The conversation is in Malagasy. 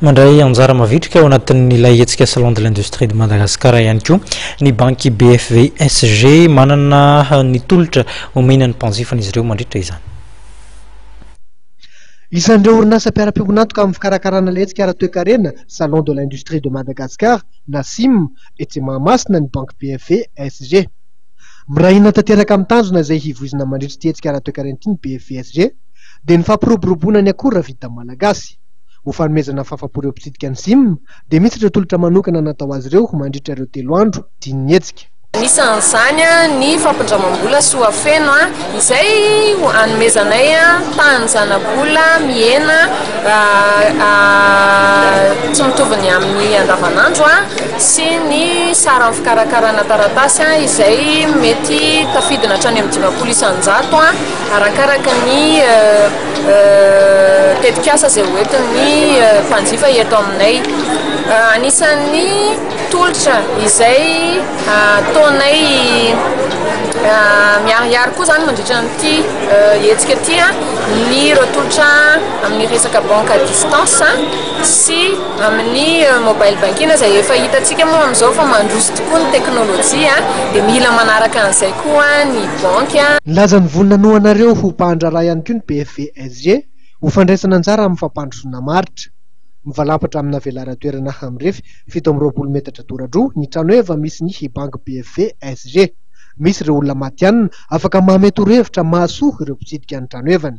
Mandray anjara mavitrika ao anatin'ilay hetsika Salon de l'Industrie de Madagascar ihany koa ny banky BFVSG. Manana ny tolotra omena ny mpanjifany izy ireo mandritra izany. Isan'ireo orinasa mpiara-piombon'antoka amin'ny fikarakarana ilay hetsika ara-toekarena Salon de l'Industrie de Madagascar, NACIM, etsy Mahamasina ny banky BFVSG. Miray hina tanteraka amin'ny tanjona izay hivoizina mandritra ity hetsika ara-toekarena ity ny BFVSG, dia ny fampiroboroboana ny akora vita malagasy. Ho fanomezana fahafam-po ireo mpitsidika ny Zim dia misy ireo tolotra manokana natao azy ireo mandritra ireo telo andro dian'ny hetsika. Anisan'izany ny fampindramam-bola Soafeno izay hanomezanay tahan'ny zanabola mihena tsy mitovy ny amin'ny andavanandro sy ny saran'ny fikarakarana taratasy izay mety tafidina hatrany amin'ny dimampolo isan-jato. Arakaraka ny tetikasa izay hoentin'ny mpanjifa eto aminay. Anisan'ny tolotra izay ataonay miharihary koa izany mandritra an'ity hetsika ity ny ireo tolotra amin'ny resaka banque à distance sy amin'ny mobile banking izay efa hitantsika moa amin'izao fa mandroso tokoa ny teknolojia dia mila manaraka an'izay koa ny. banky. Nilaza ny voiny nanohanareo ho mpahandraharaha ihany koa ny BFVSG ho fandraisana anjara amin'ny fampandrosoana maritra. Mivalampatra amina velaran-toerana mirefy fito amby roapolo metatra dora-droa ny trano eva misy ny banky BFVSG. Misy ireo olona matihanina afaka mamehy torohevitra mahasoa ireo mpitsidika ny trano evany.